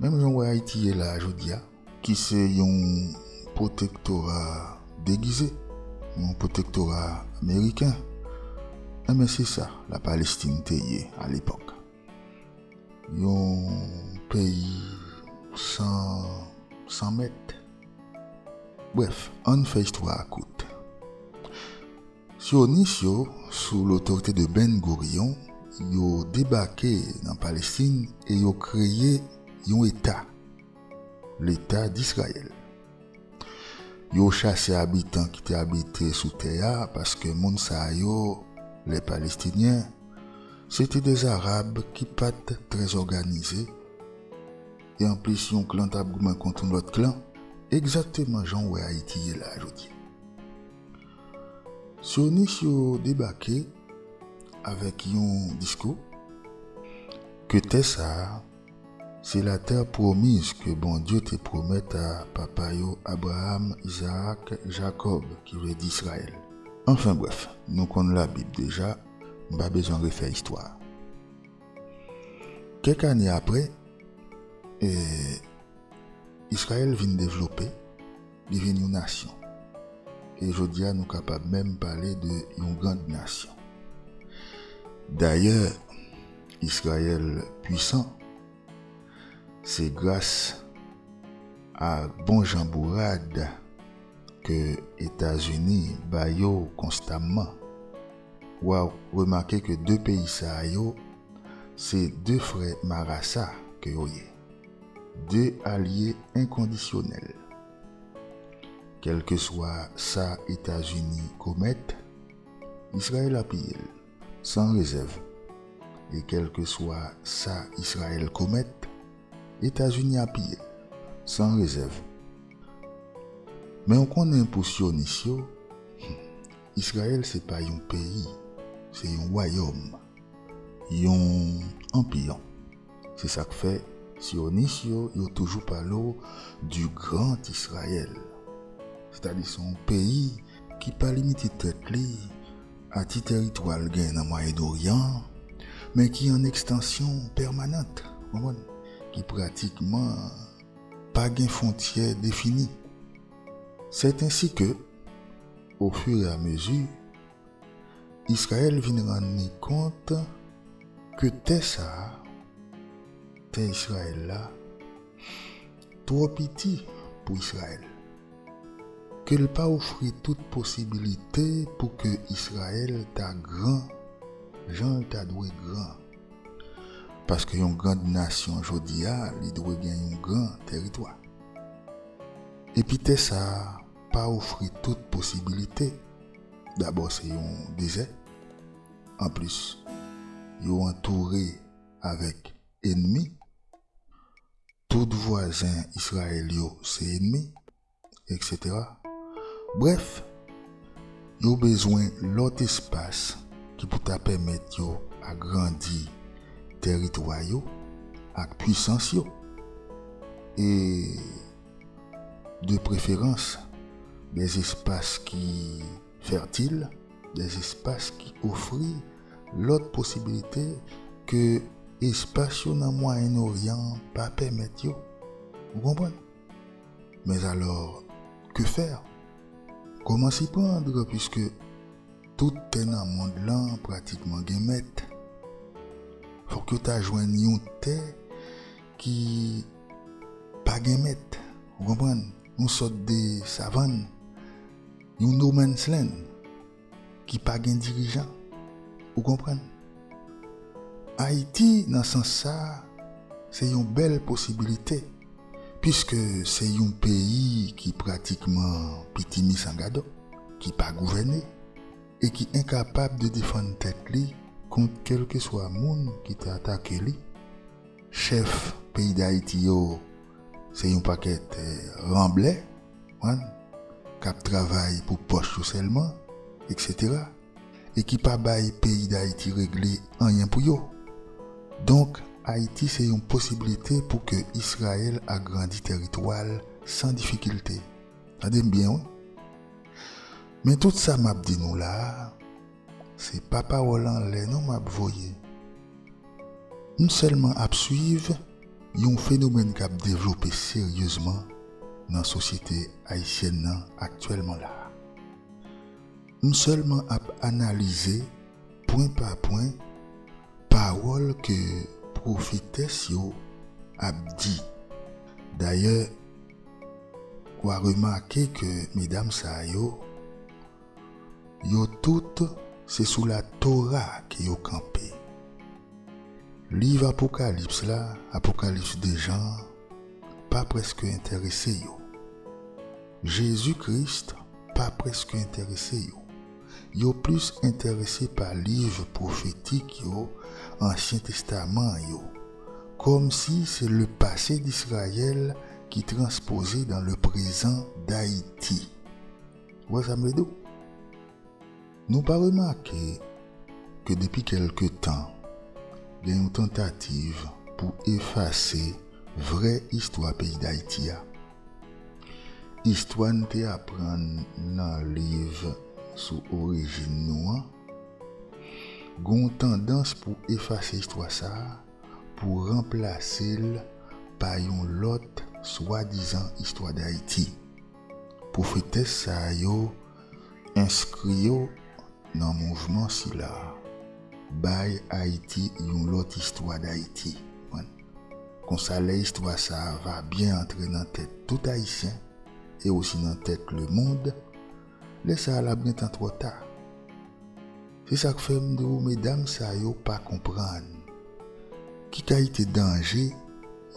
Menm jan w wè Ayiti ye la a jodi a, ki se yon pwotektora degize, yon pwotektora meriken, enben se sa Lapalestin te ye alepòk, yon peyi san san mèt. Brèf, ann fè istwa a kout. Syonis yo, sou lotorite de Ben Gurion, yo debake nan Palestin e yo kreye yon eta, Leta Disrayèl. Yo chase abitan ki te abite sou tè a paske moun sa yo, lè Palestinyen, se te de Zarab ki pa t trè zòganize e anplis yon klan t ap goumen kont yon lòt klan, egzakteman jan w wè Ayiti ye la a jodi. Sionis yo debake avèk yon diskou ke tè sa a se latè pwomiz ke Bondye te pwomèt a papa yo Abraam, Izaak, Jakòb, ki vle di Israël. Anfen brèf, nou konn Labib deja, m pa bezwen refè istwa a. Kèk ane apre, Israël vin devlope. Li vin yon nasyon. E jodi a nou kapab menm pale de yon grand nasyon. Dayè, Israël pwisan, se gras a bon jan bourad ke Etazini ba yo konstamman. Ou a remake ke 2 peyi sa yo, se 2 frè marasa ke yo ye. De alye enkondisyonèl. Kèlkeswa sa Etazini komèt, Izrayèl apiye l, san rezèv. E kèlkeswa sa Izrayèl komèt, Etazini apiye l, san rezèv. Men ou konnen pou syonis yo, Izrayèl se pa yon peyi, se yon wayòm, yon anpiyon. Se sa k fè, Syonis yo, yo toujou pale w di Grand Israël. Sètadi se yon peyi ki pa limite tèt li a ti tèritwa l gen nan Mwayen Noryan an, men ki an ekstansyon pèmanant, ou konprann, ki pratikman pa gen fwontyè defini. Sèt ensi ke, ofiramezi, Israël vin rann li kont ke tè sa a, tè Israël la, twò piti pou Israël, ke l pa ofri tout posibilite pou ke Israël ta gran jan l ta dwe gran. Paske yon grand nasyon jodi a li dwe gen yon gran tèritwa. Epi tè sa a. pa ofri tout posibilite, dabò se yon dezè, anplis yo antoure avèk enmi, tout vwazen Israël yo se enmi, etc. Brèf, yo bezwen lòt espas ki pou ta pèmèt yo agrandi tèritwa yo ak pwisans yo. E de preferans de espas ki fètil, de espas ki ofri lòt posibilite ke espas yo nan Mwayen Oryan an pa pèmèt yo. Ou konprann? Mèzalò, ke fè? Kòman si prandr piske tout tè nan mond lan pratikman gen mèt? Fòk yo ta jwenn yon tè Ki pa gen mèt, ou konprann? Yon sòt de savann, yon no man's land, ki pa gen dirijan, ou konprann? Ayiti, nan sans sa, se yon bèl posibilite, piske se yon peyi ki pratikman pitimi san gadò, ki pa gouvène, e ki enkapab de defann tèt li kont kèlkeswa moun ki te atake li. Chèf peyi dayiti yo se yon pakèt ranblè konprann kap travay pou pòch yo sèlman etc e ki pa bay peyi dayiti regle anyen pou yo donk ayiti se yon posiblite pou ke israel agrandi tèritwal san difikilte tandem byen wi men tout sa map di nou la. Se pa pawòl anlè non map voye. M sèlman ap swiv yon fenomèn kap devlope seryezman nan sosyete ayisyèn nan aktyèlman la a. M sèlman ap analize pwen pa pwen pawòl ke pwofetès yo ap di. Dayè, wa remake ke medam sa yo Yo tout se sou la Tora ke yo kanpe. Liv Apokalips la, Apokalips de Jan an, pa prèske enterese yo. Jezi Kris pa prèske enterese yo. Yo plis enterese pa liv pwofetik yo, Ansyen Testaman an yo, kòm si se le pase d'Israyèl ki transpoze dan le prezan d'Ayiti. Ou wè sa m vle di w? Nou pa remake ke depi kèlke tan, gen yon tantativ pou efase vrè istwa peyi Dayiti a. Istwa n te aprann nan liv sou orijin nou an, gen yon tandans pou efase istwa sa a pou ranplase l pa yon lòt swadizan istwa Dayiti. Pwofetès sa yo enskri yo nan mouvman sila bay Ayiti yon lòt istwa dAyiti. Konsa lè istwa sa va byen antre nan tèt tout Ayisyen e osi nan tèt lemond, lè sa lap gentan twò ta. Se sa k fè m di w medam sa yo pa konprann ki kalite danje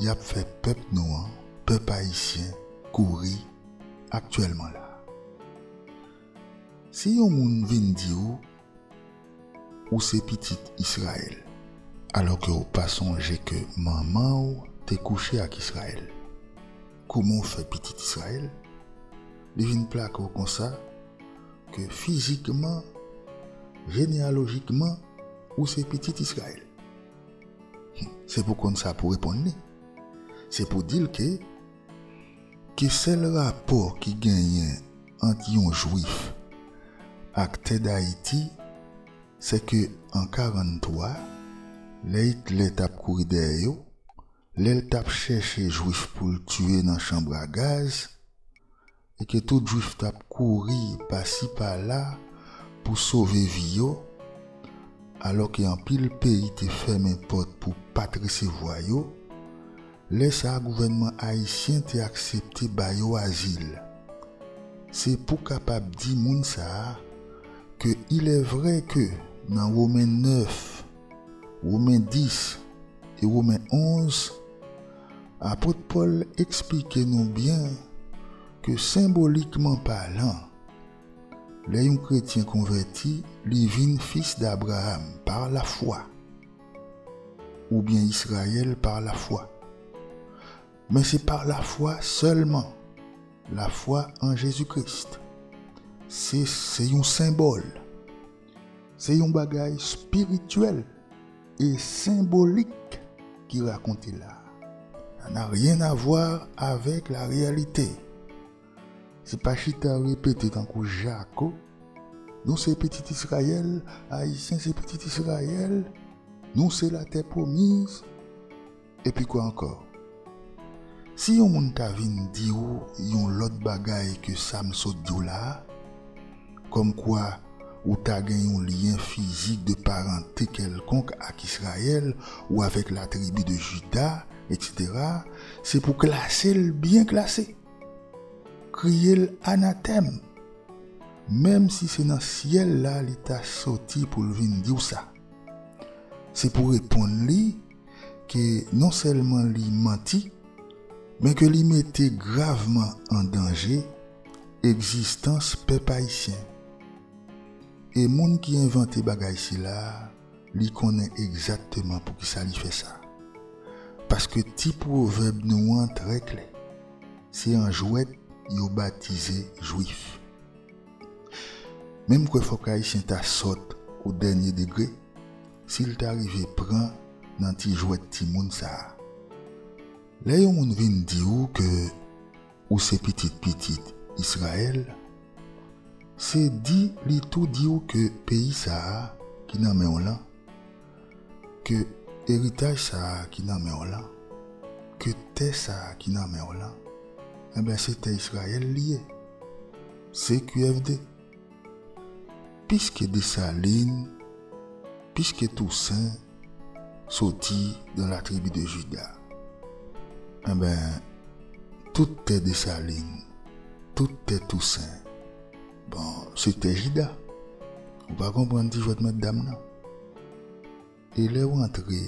y ap fè pèp nou an, pèp ayisyen, kouri aktyèlman la a. Si yon moun vin di w ou se pitit Israël alò ke w pa sonje ke manman w te kouche ak Israël, Kouman ou fè pitit Israël? Li vin plake w konsa ke fizikman, jeneyalojikman, ou se pitit Israël? Hum, se pou konn sa pou reponn li. Se pou di l ke, ke sèl rapò ki genyen ant yon jwif ak tè dayiti, se ke an 43, lè Hitler t ap kouri dèyè yo, lè l t ap chèche jwif pou l tiye nan chanb a gaz, e ke tout jwif t ap kouri pasi pala pou sove vi yo, alò ke anpil peyi te fèmen pòt pou pa t resevwa yo, lè sa a gouvènman ayisyen te aksepte ba yo azil. Se pou kapab di moun sa a ke ilèvrè ke nan Women 9, Women 10 e Women 11, apot Pòl esplike nou byen ke senbolikman palan, lè yon kretyen konvèti, li vin fis d'Abraham par la foi, oubyen Israël par la foi. Men se par la foi sèlman, la foi en Jésus-Christ. Se se yon senbòl. Se yon bagay spirityèl e senbolik ki rakonte la. Sa na ryen avwa avèk la reyalite. Se pa chita repete tankou jako, Nou se pitit Israyèl, Ayisyen se pitit Israyèl, Nou se latè pwomiz. Epi kwa ankò? Si yon moun ta vin di ou yon lòt bagay ke sa m sot di w la a, kòm kwa ou ta gen yon lyen fizik de parante kèlkonk ak Israël ou avèk la tribi de Juda, eksetera, se pou klase l byen klase, kriye l anatèm, menm si se nan syèl la li ta soti pou l vin di w sa. Se pou reponn li ke non sèlman li manti, men ke li mete gravman an danje egzistans pèp ayisyen. E moun ki envante bagay sila, li konnen egzakteman poukisa li fè sa. Paske ti pwovèb nou an trè klè, se an jwèt yo batize jwif. Men m kwè fòk ayisyen ta sòt o dènye degre si l ta rive pran nan ti jwèt timoun sa a. Lè yon moun vin di ou ke ou se pitit pitit Israël, se di li tou di ou ke peyi sa a ki nan men w lan, ke eritaj sa a ki nan men w lan, ke tè sa a ki nan men w lan, enben se tè Israël li ye. CQFD. Piske Desalin, piske Tousen soti dan la tribi de Jida, enben, tout tè Desalin, tout tè Tousen, bon, se tè Jida. Ou pa konprann ti jwèt mètdam nan? E lè w antre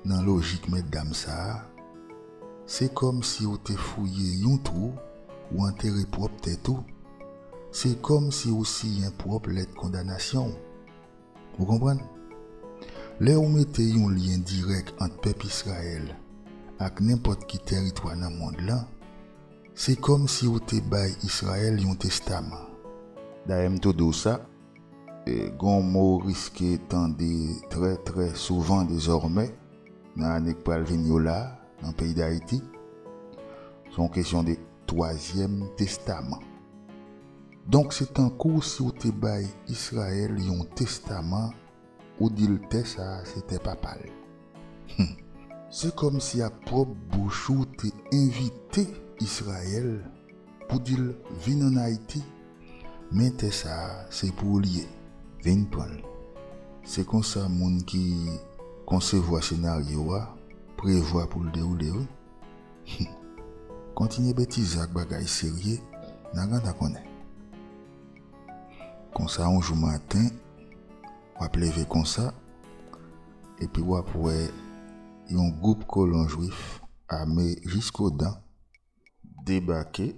nan lojik mètdam sa a, se kòmsi w te fouye yon twou w antere pwòp tèt ou, se kòmsi w siyen pwòp lèt kondanasyon w. Ou konprann? Lè w mete yon lyen dirèk ant pèp Izrayèl ak nenpòt ki tèritwa nan mond lan, se kòmsi w te bay Izrayèl yon testaman. Dayè m tou di w sa, Gon mo w riske tande trè trè souvan dezòmè nan ane k pral vini yo la nan peyi Dayiti. Se yon kesyon de twazyèm testaman. Donk se tankou si w te bay Israel yon testaman Ou dil tè sa se tè papal humm. Se kòmsi ak pwòp bouch ou te envite Israël pou dil vin an Ayiti men tè sa se pou ou li ye vin pranl. Se konsa moun ki konsevwa senaryo a prevwa poul dewoule wi humm. Kontinye betize ak bagay serye na gan ta konnen konsa yon jou maten. Wap leve konsa, epi wap wè yon gwoup kolon jwif ame jisko dan debake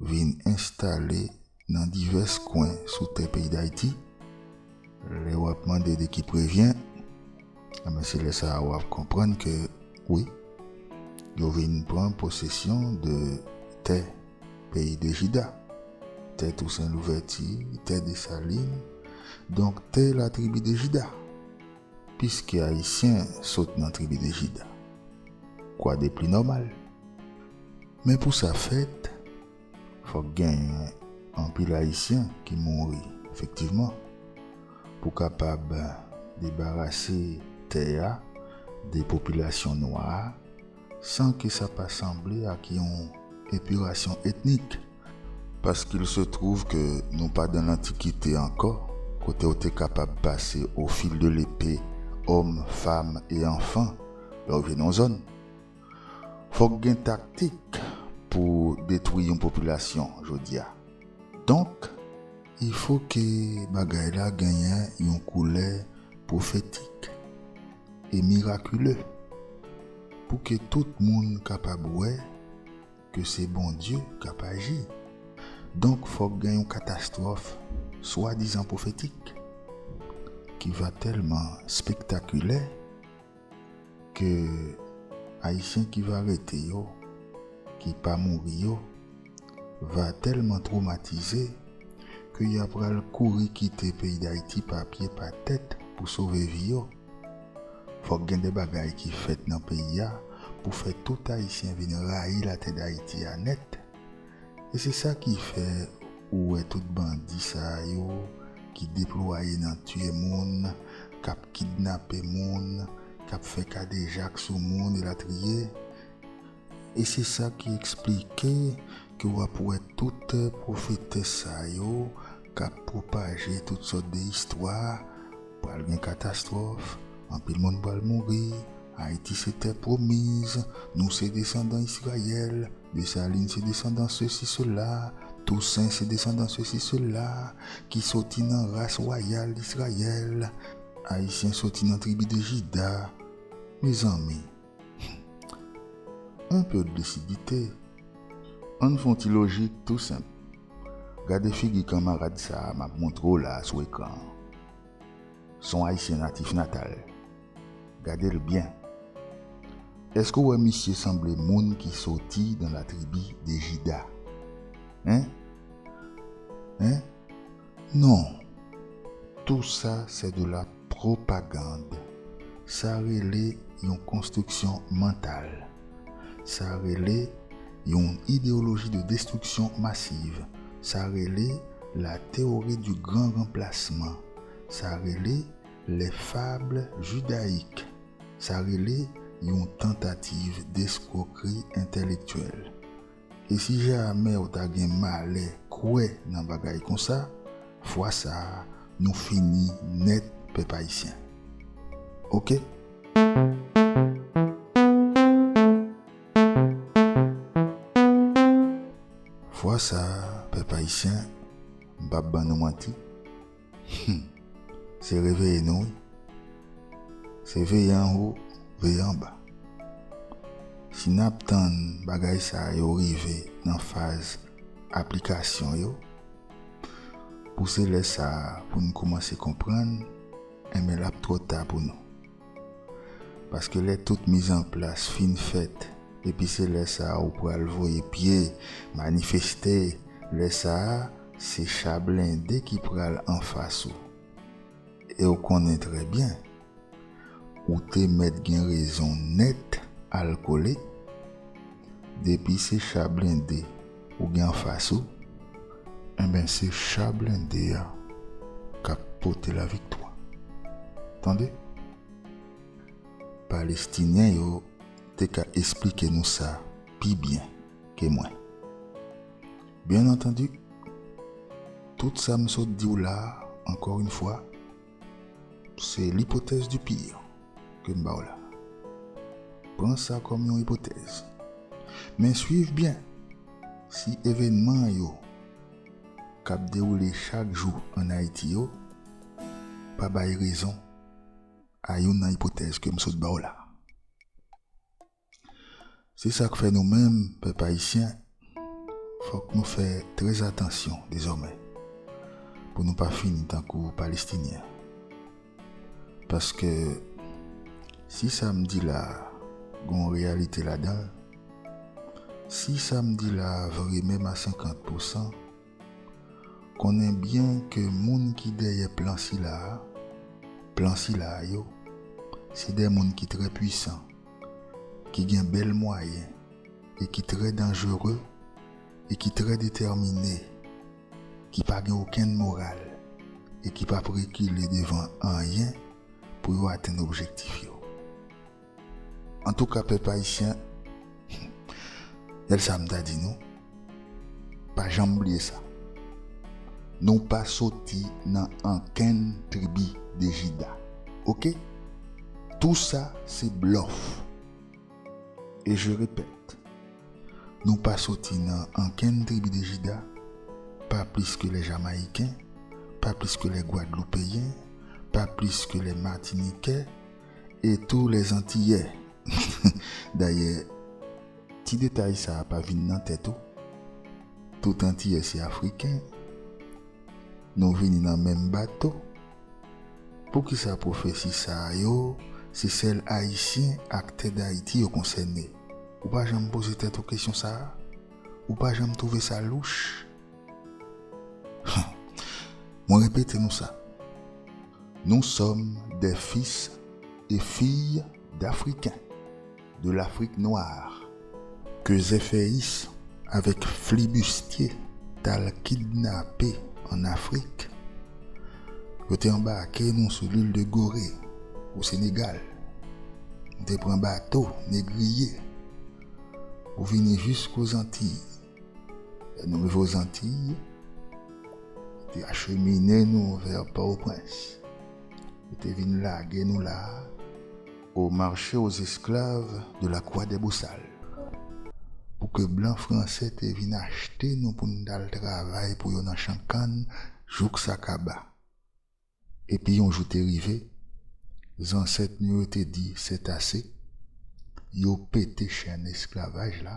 vin enstale nan divès kwen sou tè peyi Dayiti. Lè wap mande de ki prevyen, enben se lè sa a wap konprann ke wi, yo vin pran posesyon de tè. peyi de Jida, tè Tousen Louvèti, tè Desalin, donk tè latribi de Jida, piske Ayisyen sot nan tribi de Jida. Kwa de pli nòmal. Men pou sa fèt, fòk genyen anpil Ayisyen ki mouri, efektivman, pou kapab debarase tè a de popilasyon nwa a, san ke sa pa sanble ak yon epirasyon etnik. Paske l se twouv ke nou pa dan lantikite ankò, kote w te kapab pase o fil de lepe òm, fam e anfan lè w vin yon zòn. Fòk gen taktik pou detwi yon popilasyon jodi a. Donk. Ifo ke bagay la genyen yon koulè pwofetik. e mirakile pou ke tout moun kapab wè ke se Bondye k ap aji. Donk fòk gen yon katastwòf swadizan pwofetik ki va tèlman spektakilè ke Ayisyen ki va rete yo, ki pa mouri yo, va tèlman twomatize ke ya pral kouri kite peyi Dayiti pa pye pa tèt pou sove vi yo. Fòk gen de bagay ki fèt nan peyi a pou fè tout Ayisyen vin rayi latè Dayiti a nèt. E se sa ki fè ou wè tout bandi sa yo ki deplwaye nan tiye moun, k ap kidnape moun, k ap fè kadejak sou moun elatriye. E se sa ki eksplike ke w ap wè tout pwofetès sa yo k ap pwopaje tout sòt de istwa, pral gen katastwòf, anpil moun pral mouri, Ayiti se tè pwomiz, nou se desandan Israël, Dessalines se desandan sesi sela, Toussaint se desandan sesi sela, ki soti nan ras wayal Israël, Ayisyen soti nan tribi de Jida. Mezanmi! Humm. On peu de lucidite. Ann fon ti lojik tou senp. Gade figi kanmarad sa a map montre w la a sou ekran an. Son Ayisyen natif natal. Gade l byen. Eske w wè misye sanble moun ki soti dans la tribu de Juda? Hein? Hein? Non, tou sa se de la propagande. Sa rele yon konstriksyon mantal. Sa rele yon ideyoloji de destriksyon masiv. Sa rele la théorie du grand remplacement. Sa rele les fables judaïques. Sa rele yon tantativ d'escroquerie intellectuelle. E si jamè ou ta gen malè kwè nan bagay konsa, fwa sa a nou fini nèt pèp ayisyen. Ok. Fwa sa a pèp ayisyen, m pap ban nou manti, Humm se reveye nou wi. Se veye anwo veye anba. Si nap tann bagay sa yo rive nan faz aplikasyon yo pou se lè sa poun koumanse konprann enben lap twò ta pou nou. Paske lè tout mizanplas fin fèt, epi se lè sa a ou pral voye pye, manifeste, lè sa a, se cha blende ki pral anfas ou. E ou konnen trè byen, ou te mèt gen rezon nèt al kole, depi se cha blende, ou gen anfas ou enben se cha blende a kap pote la viktwa tande palestinyen yo te ka esplike nou sa pi byen ke mwen byen antandi tout sa m sot diw la ankò yn fwa Se l'hypothèse du pire ke m ba w la. Pran sa kòm yon ipotèz. Men swiv byen, si evènman yo k ap dewoule chak jou ann Ayiti yo pa bay rezon a youn nan ipotèz ke m sot ba w la, Se sa k fè nou menm pèp ayisyen fòk nou fè trèzatansyon dezòmè pou nou pa fini tankou Palestinyen. Paske si sa m di la a gon reyalite ladan l, si sa m di la a vre menm a senkant pousan, Konnen byen ke moun ki dèyè plan sila a, plan sila a yo, se de moun ki trè pwisan, ki gen bèl mwayen e ki trè danjere e ki trè detèmine, ki pa gen okenn moral e ki p ap rekile devan anyen pou yo atenn objektif yo. Antouka pèp ayisyen gad sa m ta di nou pa janm bliye sa nou pa soti nan ankenn tribi de jida ok tou sa se blòf e je repèt nou pa soti nan ankenn tribi de jida pa plis ke lè jamayiken pa plis ke lè gwadloupeyen pa plis ke lè matinikè E tou les antiyè. Dayè ti detay sa pa vin nan tèt ou? Tout antiyè se afriken. Nou vini nan menm bato. Poukisa pwofesi sa yo se sèl ayisyen ak tè dayiti yo konsène? Ou pa janm poze tèt ou kesyon sa? Ou pa janm twouve sa louch? Mwen repete nou sa, nou sòm dè fis e fiy dAfriken, de lAfrik nwar, ke Zèfèyis avèk Flibistye t al kidnape an Afrik, yo te anbake nou sou Lil de Gore, o Senegal, nou te pran bato negriye pou vini jisko Zantiy. Nou rive Ozantiy, te achemine nou vè Pòtoprens. Yo te vin lage nou la a. Au marché aux esclaves de la Croix des Bosales. Pou ke blan franse te vin achte nou pou n t al travay pou yo nan chan kann jouk sa kaba. Epi yon jou te rive, zansèt nou yo te di sètase, yo pete chèn esklavaj la,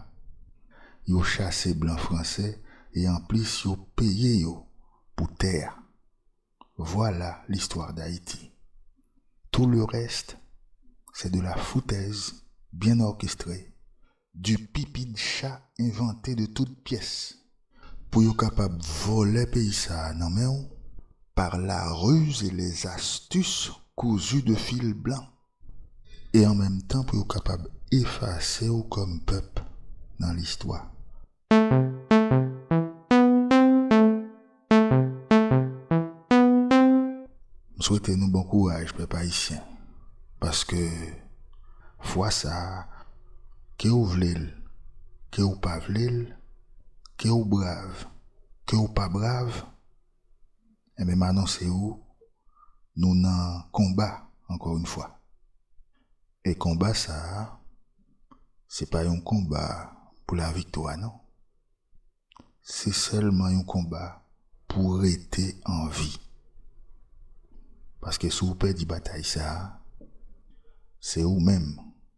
yo chase blan franse e anplis yo peye yo pou tè a. Vwala listwa Dayiti. Tou le rèst, se de la foutèz byen òkestre Du pipi de cha envante de tout pyès. Pou yo kapab vòlè peyi sa nan men w par la ruse et les astuces cousues de fil blanc e an menm tan pou yo kapab efase w kòm pèp nan listwa. M swete nou bon kouraj pèp ayisyen paske fwa sa ke ou vle l ke ou pa vle l ke ou brav ke ou pa brav Enben m anonse ou nou nan konba ankò yon fwa. E konba sa a se pa yon konba pou laviktwa non. Se sèlman yon konba pou rete an vi. Paske si w pèdi batay sa a, se ou menm